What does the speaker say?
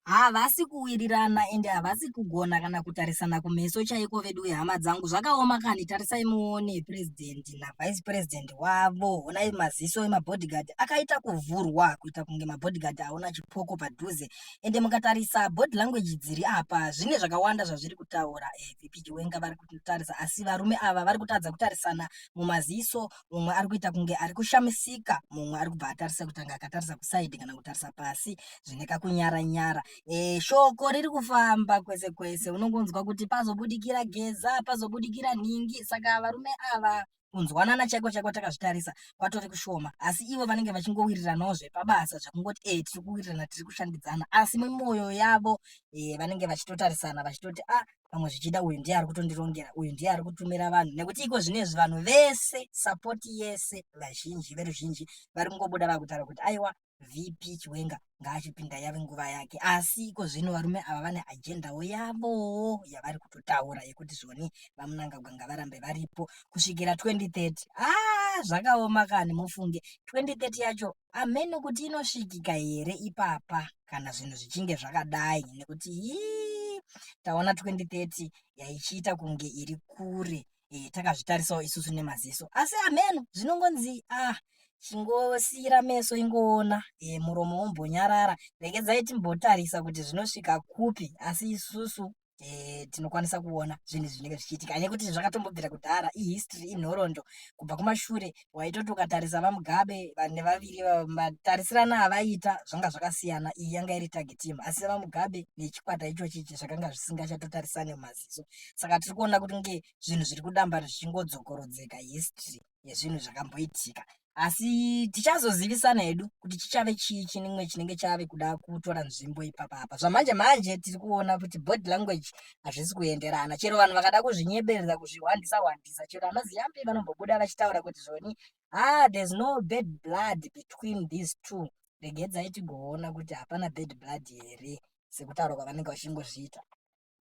havasi kuwirirana ende havasi kugona kana kutarisana kumeso chaiko veduwe hama dzangu zvakaoma kani tarisai muone president navice president wavo honai maziso emabodyguard akaita kuvhurwa kuita kunge mabodyguard aona chipoko padhuze ende mukatarisa body language dziri apa zvine zvakawanda zvazviri kutaura eh, vp chiwenga vari kutarisa asi varume ava vari kutadza kutarisana mumaziso umwe ari kuita kunge ari kushamisika mumwe ari kubva atarisa kuti anga akatarisa kusaidi kana kutarisa pasi zvine kakunyara nyara e, shoko riri kufamba kwese kwese unongonzwa kuti pazobudikira geza pazobudikira nhingi saka varume ava kunzwanana chaiko chaiko takazvitarisa kwatori kushoma asi ivo vanenge vachingowiriranawo zvepabasa zvekungoti e eh, tiri kuwirirana tiri kushandidzana asi mumwoyo yavo e, vanenge vachitotarisana vachitoti a ah, pamwe zvichida uyu ndiye ari kutondirongera uyu ndiye ari kutumira vanhu nekuti iko zvinezvi vanhu vese sapoti yese vazhinji veruzhinji vari kungobuda vakutaura kuti aiwa vp chiwenga ngaachipinda yave nguva yake asi iko zvino varume ava vane ajendawo yavowo yavari kutotaura yekuti zvoni vamunangagwa ngavarambe varipo kusvikira 2030 a ah, zvakaoma kani mufunge 2030 yacho Hameno kuti inosvikika here ipapa kana zvinhu zvichinge zvakadai nekuti hii taona 2030 yaichiita kunge iri kure e, takazvitarisawo isusu nemaziso asi hameno zvinongonzi ah chingosiira meso ingoona e, muromo wombonyarara regedzai timbotarisa kuti zvinosvika kupi asi isusu e, tinokwanisa kuona zvinhu zvinenge zvichiitika hanya kuti zvakatombobvira kudhara ihistory inhorondo kubva kumashure waitoti ukatarisa vamugabe vane vaviri matarisirano avaiita zvanga zvakasiyana iyi yanga iri tagi team asi vamugabe nechikwata ichochi zvakanga zvisingachatotarisane mumaziso saka tiri kuona kuti nge zvinhu zviri kudambara zvichingodzokorodzeka history yezvinhu zvakamboitika asi tichazozivisana hedu kuti chichave chii chinimwe chinenge chave kuda kutora nzvimbo ipapa apa zvamanje manje tiri kuona kuti body language hazvisi kuenderana chero vanhu vakada kuzvinyeberera kuzvihwandisa hwandisa chero anaziyambi vanombobuda vachitaura kuti zvoni ah there's no bad blood between these two regedzai tigoona kuti hapana bad blood here sekutaura kwavanenge vachingozviita